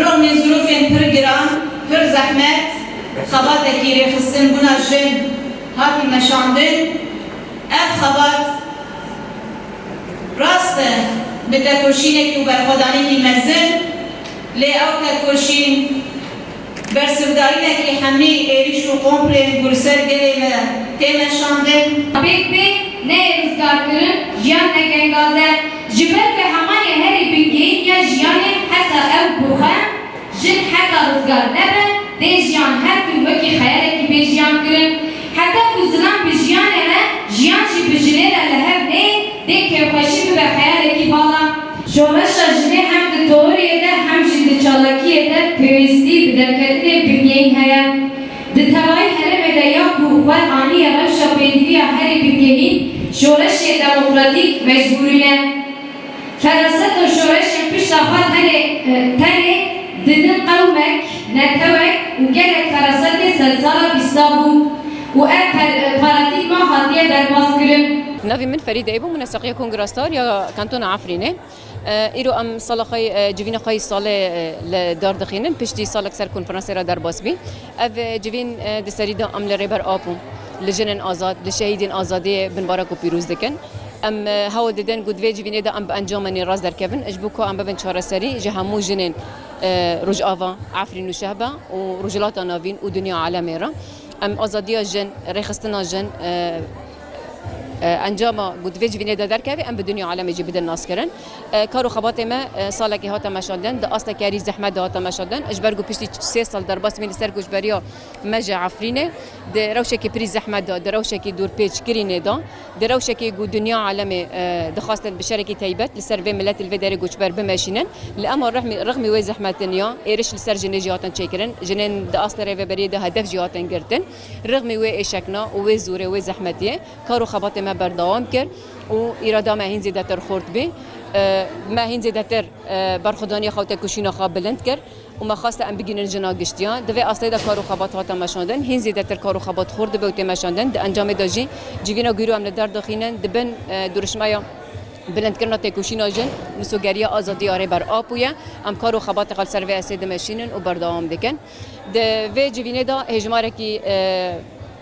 Rûnê zirûfên pir giran, pir zehmet, xebatekî rêxistin bûna jin hatî meşandin. Ev xebat rast e bi tekoşînekî û berxwedanekî mezin lê ew tekoşîn Bersivdayînekî hemî êrîş û komplên ku li ser gelê me tê meşandin. Pêk be neyê rizgarkirin jiyan ne gengaze ji ber ku heman yê herî bingehîn ya jiyanê heta ew ku xwe, jin, heta rizgar nebe dê jiyan her tim wekî xeyalekî bê jiyan kirin. Heta ku zilam bi jiyanê re, jiyan jî bi jinê re li hev neyê dê kêfxweşî bibe xeyalekî vala. Şoreşa jinê hem di teoriyê de hem jî di çalakiyê de pêwîstî bi derketinên bingehîn heye. Di tevayî herêmê de ya ku xwe aniye rewşa pêdiviya herî bingehîn şoreşê demokratîk mecbûrî ne. Feraset û şoreşên pişta xwe tenê tenê didin qewmek, netewek û gelek ferasetê sedsala bîsta bû. û ev paradîgma hatiye derbazkirin. Navê min Ferîd Eybo, min e Seqiya Kongrastar ya Kantona Efrînê. Îro em sala xwe civîna xwe yê salê li dar dixînin, piştî salek ser konferansê re derbas bî. Ev civîn di serî de em li Rêber Apo, li jinên azad, li şehîdên azadiyê binbara ku pîroz dikin. Em hewl didin ku di vê civînê de em bi encamên nêrast derkevin ji bo ku em bibin çareserî ji hemû jinên Rojava, Efrîn û Şehba û Rojhilata Navîn û dinya alemê re. Em azadiya jin, rêxistina jin encama ku di vê civînê de derkeve em bi dinya alemê jî bidin naskirin. Kar û xebatê me salekê hate meşandin, di asteke herî zehmet de hate meşandin. Ji ber ku piştî sê sal derbas bûyîn li ser koçberiya me ji Efrînê di rewşekî pirî zehmet de, di rewşekî dûrpêçkirînê de, Di rewşekê ku dinya alemê dixwastin bi şerekî taybet li ser vê miletî li vê derê goçber bimeşînin, li ema rixmî wê zehmetin ya êriş li ser jinê jî hatin çêkirin, jinên di astê rêveberiyê de hedef jî hatin girtin. Rixmî wê êşekna û wê zorê wê zehmetiyê kar û xebatê me berdewam kir û îrada me hîn zêdetir xurt bû. Me hîn zêdetir berxwedaniya xwe û têkoşîna xwe bilind kir. û me xwest em bigihînin jina giştiyan. Di vê asteyê de kar û xebat hate meşandin. Hîn zêdetir kar û xebat xurt dibe û tê meşandin. Di encamê de jî civîna gûr û em li der dixînin. Di bin dirûşmeya bilindkirina têkoşîna jin, misogeriya azadî ya Rêber Apo ye. Em kar û xebatê xwe li ser vê estê dimeşînin û berdewam dikin. Di vê civînê de hêjmarekî.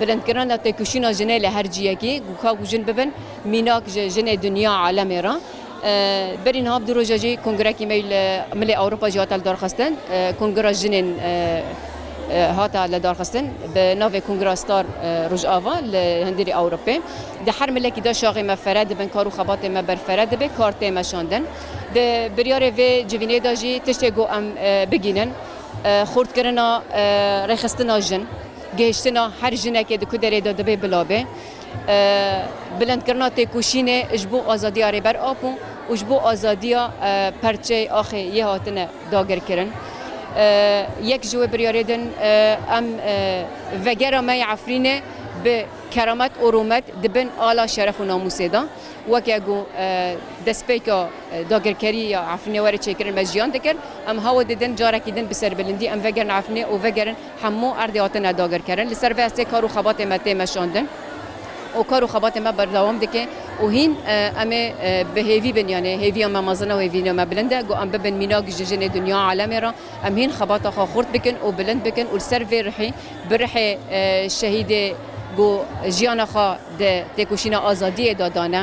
bilindkirina têkoşîna jinê li her ciyekî ku ka ku jin bibin mînak ji jinê dinya alemê re. Berî niha bi du roja jî kongrekî me li milê Ewropa jî hate li darxistin. Kongra jinên hate li darxistin bi navê Kongra Star Rojava li hindîrê Ewropê. Di her milekî de şaxê me fere dibin, kar û xebatên me berfere dibe, kar tê meşandin. Di biryarê vê civînê de jî tiştê ku em bigînin, xurtkirina rêxistina jin, gihiştina her jinekê di ku derê de dibe bila be, bilindkirina têkoşînê ji bo azadiya Rêber Apo û ji bo azadiya perçeyê axê yê hatine dagirkirin. Yek ji wê biryarê din em vegera me ya Efrînê bi keramet û rûmet di bin ala şeref û namûsê de weke ku destpêka Dagirkerî ya Efrînê were çêkirin me jiyan dikir. Em hawa didin carekî din bi serbilindî em vegerin Efrînê û vegerin hemû erdê hatine dagirkerin. Li ser vê estê kar û xebatê me tê meşandin û kar û xebatê me berdewam dike û hîn em ê bi hêvî bin yanê hêviya me mezin e û hêviya me bilind e. Ku em bibin mînak ji jinê dinya alemê re em hîn xebata xwe xurt bikin û bilind bikin û li ser vê rihî bi rihê şehîdê ku jiyana xwe di têkoşîna azadiyê de dane,